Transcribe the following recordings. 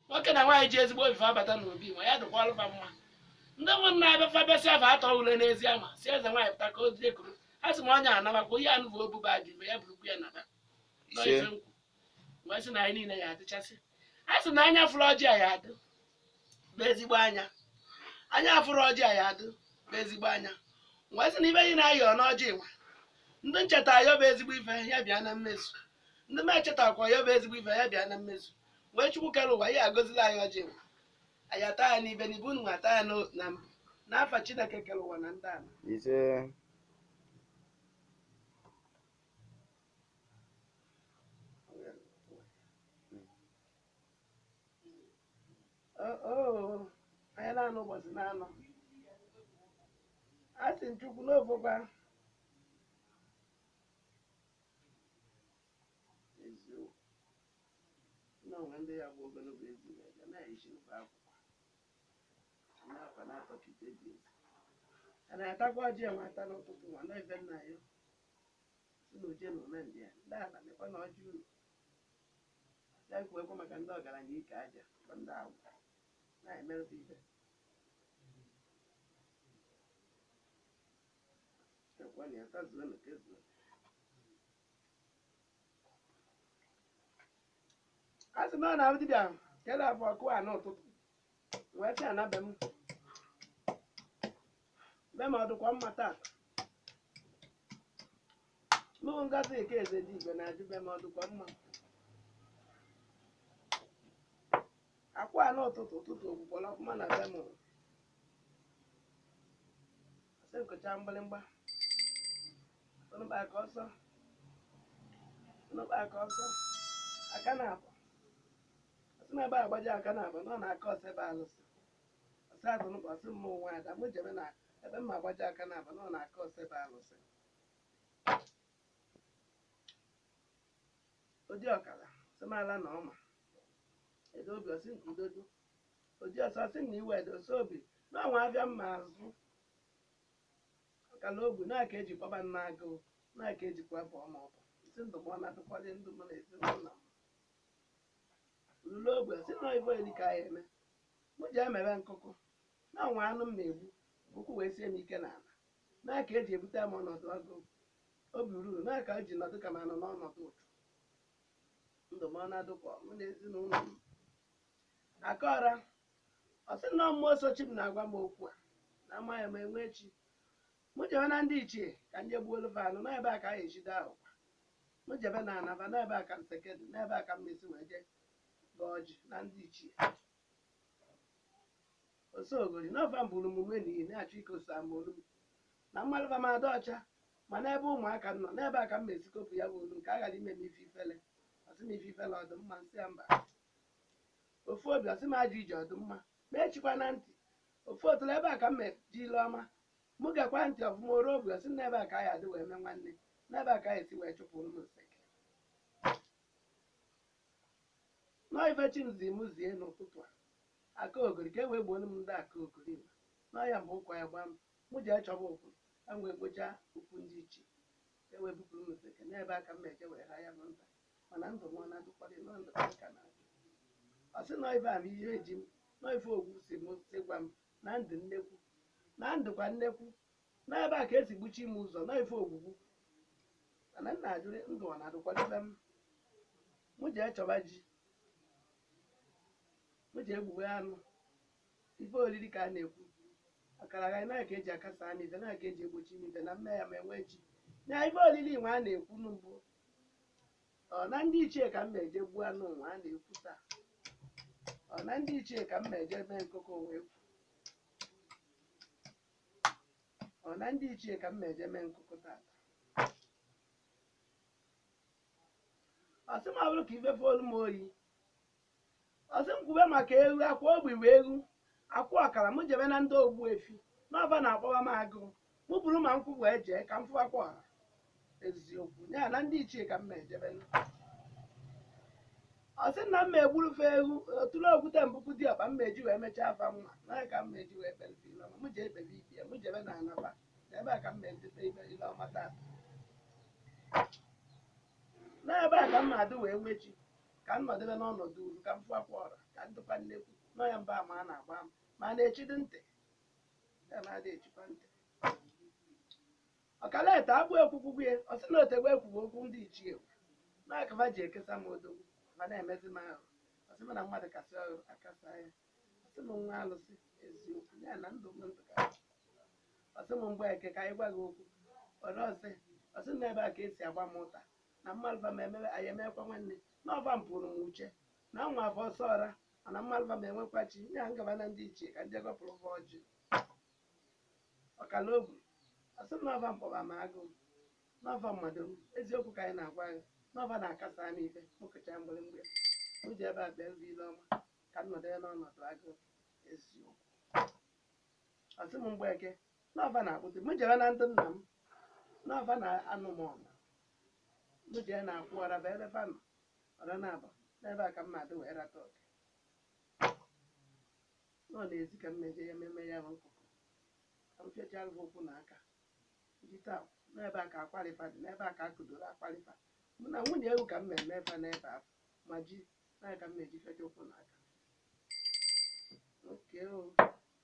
nwoke na nwaanyị ji ezigbo obi wee bata n'obi nwa ya dịkwalụ fa mma ndị nwe m na-abịa fa bịasịa afọ atọ ule n'ezi ama si eze nwaanyị pụta ka o jide kuru a sị m onye anabakwa ihe anụ bụ obuba dị mgbe ya burukwu ya naba Nọ Ise. ife nkwu. M wee sị na anyị niile ya adịchasị a sị na anya fụrụ ọjị a ya adụ bụ ezigbo anya anya fụrụ ọjị a ya adụ bụ ezigbo anya m wee sị na ife anyị na-ayọ n'ọjị nwa ndị m cheta ayọ bụ ezigbo ife ya bịa na mmezu ndị m echetakwa ayọ bụ ezigbo ife ya bịa na mmezu mgbe chukwu kere ụwa ya gọzilụ anyị ọjị nwa anyị ata ya n'ibe n'ibe unu ata ya n'o- na mbụ n'afa chineke kere ụwa na ndị ala ise oo anyị na-anụ ụbọchị na-anọ a sị m chukwu nọfọkwa Nna nwe ndị ya bụ ogologo ezi na eze na-eyichi n'ụba akwụkwọ n'akwa na-atọ ka ite dị ezi. A na-atakwa ọjị enwe ata n'ụtụtụ nwa na ebe nna ya si na uje na ụna ndị a ndị ala mekwa na ọjị uru ya kwuekwa maka ndị ọgaranya ike aja bụ ndị agwụ na-emerụta ibe ekwe na ya tazuo na kezuo a sị na ọ na-abụ dibịa kele ọfọ akụ a n'ụtụtụ wee sị ana be m be m ọ dịkwa mma taa mụ ngozi nke eze dị igwe na-ajụ be m ọ dịkwa mma akwụ a n'ụtụtụ ụtụtụ ogbugbola ọfụma na be m ọsọ ekocha mgbịrịmgba aka ọsọ aka ọsọ aka na-abụ ọ sị na ebe agbaji aka na-abụ na ọ na-aka ọsọ ebe alụsị ọsị azụ nụkwa ọsị mma onwe ada mụ jebe na ebe mma agbaji aka na-abụ na ọ na-aka ọsọ ebe alụsị odi ọkara sị m ala na ọma edo obi ọ sị nke udodo odi ọsọ sị na iwe edosa obi na ọnwa abịa mma azụ ọkala ogwu na aka eji kpọba nna agụụ na aka ejikwa bụ ọma ọbụ isi ndụ m ọ na-adịkwalị ndụ m na ezinụlọ m lụrụ ogbe si na ibe eri ka ya eme mụ ji emebe nkụkụ na ọnwa anụ m na-egbu ụkwụ wee sie m ike n'ala na aka eji ebute m ọnọdụ agụụ obi ruru na aka eji nọdụ ka m anọ n'ọnọdụ ụtụ ndụ m ọ na-adụkwa mụ na ezinụlọ m aka ọra ọ sị na mmụọ nsọ chi m na-agwa m okwu a na amaghị m enwe chi mụ jebe na ndị ichie ka m je gbuolu fa anụ n'ebe a ka a ejide ahụ kwa mụ jebe na anaba n'ebe a ka nseke dị n'ebe a ka m mesi wee jee gọọ ọjị na ndị ichie ose ogori n'ofe mbụrụ omume n'ihi na-achọ ike osa mbụrụ m na mmadụ ba m adị ọcha ma n'ebe ụmụaka m nọ n'ebe a ka m mesi kopụ ya bụ olu nke a ghara ime m ife ifele ọ sị m ife ifele ọ dụ mma nsị ya mba ofu obi ọ sị m ajọ ije ọ dụ mma ma echikwa na ntị ofu otule ebe a ka m meji ile ọma mụ gekwa ntị ọfụma oru obi ọ sị m n'ebe a ka anyị adị wee mee nwanne n'ebe a ka anyị esi wee chụpụ ụmụ nseke nọọ ife chi m zi m zie n'ụtụtụ a aka ogori ka e wee gbuo m ndị aka ogori ma nọọ ya mgbe ụkwa ya gbaa m Mụ jee chọba okwu, ka m wee kpoja okwu ndị ichie, ka e wee bupụrụ m nseke. N'ebe a ka m na-eje wee raa ya bụ nta, mana ndụ m ọ na-adụkwadị, nọọ ndụ ka m ka na-adụ. Ọ sị nọọ ife a bụ ihe ji m, nọọ ife ogwu si m si gwa m na ndụ nnekwu, na ndụ kwa nnekwu, nọọ ebe a ka esi gbuchi m ụzọ, nọọ ife ogwugwu. Mana m na-ajụrị ndụ ọ na-adụkwadị be m. Mụ jee chọba ji, mụ jee gbuwe anụ, Ife oriri ka a na-ekwu. Akara agari na ka eji akasa anụ ife na ka eji egbochi m ife na mme ya ma enwee chi. Nya ife oriri nwa a na-ekwu n'ugbo. Ọ na ndị ichie ka m ma eje gbuo anụ nwa a na-ekwu taa. Ọ na ndị ichie ka m ma eje mee nkụkọ onwe ekwu. Ọ na ndị ichie ka m ma eje mee nkụkọ taa. Ọ sị m ọ bụrụ ka ife folu m oyi ọ sị m kwube maka eghu akwụ ogbi wee eghu akwụ ọkara m jebe na ndị ogbu efi n'ọba na-akpọba m agụụ mụ buru ma nkwụ wee jee ka m fụwakwa ọha eziokwu ya na ndị ichie ka m ma ejebe ọ sị na m ma egburu fa eghu otule ogute mbụkwu di ọkpa m ma eji wee mechaa afa mma na ka m ma eji wee kpere ife ile ọma m ji ekpebe ife ya m jebe na anaba na ebe a ka m ma edebe ife ile ọma taa n'ebe a ka m ma adị wee nwechi ka m nọdebe n'ọnọdụ uru ka m fụ akwa ọra ka m dịkwa nnekwu nọ ya mba ma a na-agba m ma a na-echidị ntị ya na-adị echikwa ntị ọkala ete agbụ ekwukwugwu ya ọ sị na o tegbe ekwughị okwu ndị ichie na akaba ji ekesa m odogwu ma na-emezi m ahụ ọ sị m na mmadụ kasị ọrụ akasa ya ọ sị m nwa alụsị eziokwu ya na ndụ m ndụ ka ọ sị m mgbe eke ka anyị gwa gị okwu ọra ose ọ sị na ebe a ka esi agba m ụta na mmalva ma emewe anyị emekwa nwanne na ọ fa pụrụ m uche na nwa afọ ọsọ ọra mana mmalva ma enwekwa chi ya agaba na ndị ichie ka ndị gọpụrụ ụgwọ ọjị ọkala obi ọ sị m na ọ fa mkpọba ma agụụ na ọ fa mmadụ m eziokwu ka anyị na-agwa gị na ọ fa na-akasa m ife mụ kụcha mgbịrịmgba m ji ebe a bịa nri ile ọma ka m nọdụ ya n'ọnọdụ agụụ eziokwu ọ sị m mgbe eke na ọ fa na-akpụtụ m jere na ndị nna m na ọ fa na-anụ m ọnụ m jee na akwụ ọra bụ ebe fa nọ ọra na abụ n'ebe a ka m na-adị wee rata oke nọ n'ezi ka m ma-eje ya ememe ya bụ nkụkụ ka m fechara ụkwụ na aka ndị taa n'ebe a ka akwarị fa dị n'ebe a ka akụdoro akwarị fa mụ na nwunye ewu ka m na-eme fa n'ebe a ma ji na ka m na-eji fecha ụkwụ na aka oke o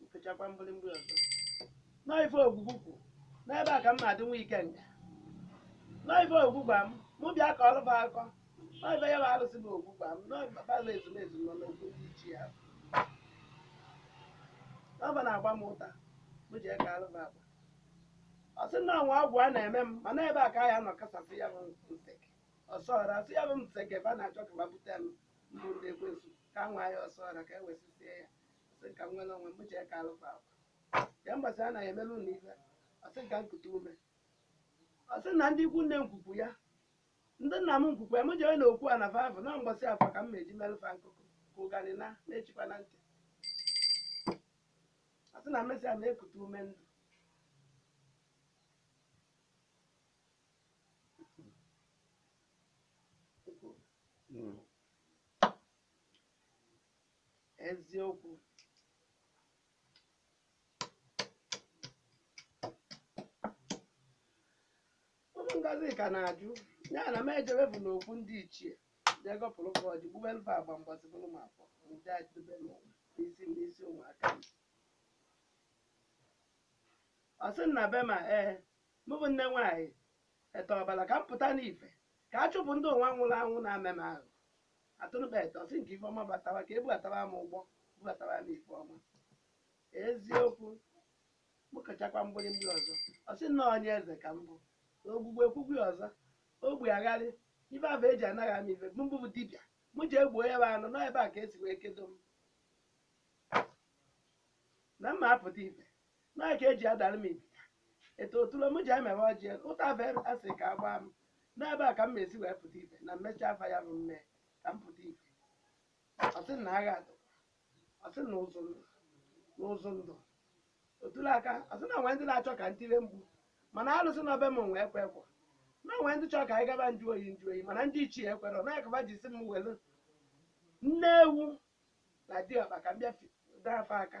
m fechakwa mgbịrịmgba ọzọ n'ife ogwugwu kwu n'ebe a ka m na-adị nwa ikenga n'ife ogwugwu gwa m mụ bịa kọọrụ fa akọ n'ife ya bụ arụsị bụ ogwugwu gwa m n'ọbara ezumezu nọ n'okwu ichie ya na ọ fa na-agba m ụta mụ je kaarụ fa agba ọ sị na o nwe agwụ a na-eme m mana ebe a ka ya nọ kasasị ya bụ nseke ọsọ ọra ọ sị ya bụ nseke fa na-achọ ka fa bute m n'ụlọ ekwensu ka nwa ya ọsọ ọra ka e wesịsie ya sị ka m nwere onwe m jee kaalụ fa agba ya mbọsị a na-emere ụlọ ife ọ sị ka m kute ume ọ sị na ndị ikwu nne nkwukwu ya ndị nna m nkwukwu ya m jere na okwu ana fa vụ na mbọsị afọ ka m meji merụ fa nkụkụ ka ụganị na na-echikwa na ntị ọ sị na m mesịa na-ekute ume ndụ Mm. eziokwu ụmụ ngozi ka na-ajụ ya na m ejebefu n'okwu ndị ichie jee gọpụrụ fa ọjị gbuwelụ fa agba mbọsị bụrụ m afọ nje adịbe m n'isi m n'isi ụmụaka m ọ sị m na be ma ee mụ bụ nne nwaanyị Ete ọbala ka m pụta n'ife ka a chụpụ ndị ụwa nwụrụ anwụ na-eme m ahụ atụrụkpa ete ọ sị na ka ife ọma batawa ka e bubatawa m ụgbọ bubatawa m ife ọma eziokwu mụ kụchakwa mgbịrịmgba ọzọ ọ sị na onye eze ka m bụ ogwugwu ekwukwu ọzọ obi agharị ife ahụ e ji anaghị ama ife m bụ bụ dibịa mụ je gbuo ya bụ anụ nọ ebe a ka e si wee kedo m na m ma apụta ife Nke eji adara m ibita eto otule m ji emewe ọjị ụta be asị ka agbaa m n'ebe a ka m na-esi wee pụta ife na mmechi afa ya bụ mme ka m pụta ife ọ sị na agha atọ ọ sị na ụzụ ndụ na ụzụ ndụ otule aka ọ sị na e nwee ndị na-achọ ka ntire mgbu mana alụsị na ọbe m nwe ekwe ekwe na e nwee ndị chọrọ ka anyị gaba nju oyi nju oyi mana ndị ichie ekwere na akaba ji si m welu nne ewu na diọkpa ka m bịa fi- dee afa aka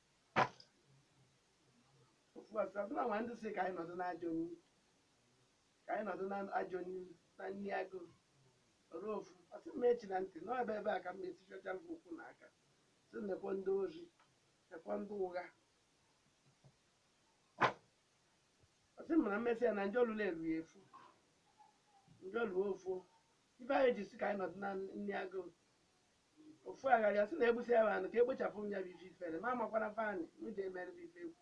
Ofu ọ sị na e nwe ndị si ka anyị nọdụ n'ajọ nri ka anyị nọdụ n'ajọ nri na nri agụụ ọrụ ofu ọ sị m echina ntị n'ebe ebe a ka m etichacha m ụkwụ na aka si nekwe ndị ori nekwe ndị ụgha ọ sị m na mmesị ya na njọ lụrụ eru ya efu njọ lụọ ofu ife anyị ji si ka anyị nọdụ na nri agụụ ofu agharị ọ sị na egbusi ya bụ anụ ka ekpochapụ m ya bụ ife ifere ma amakwara fani m ji emere bụ ife egwu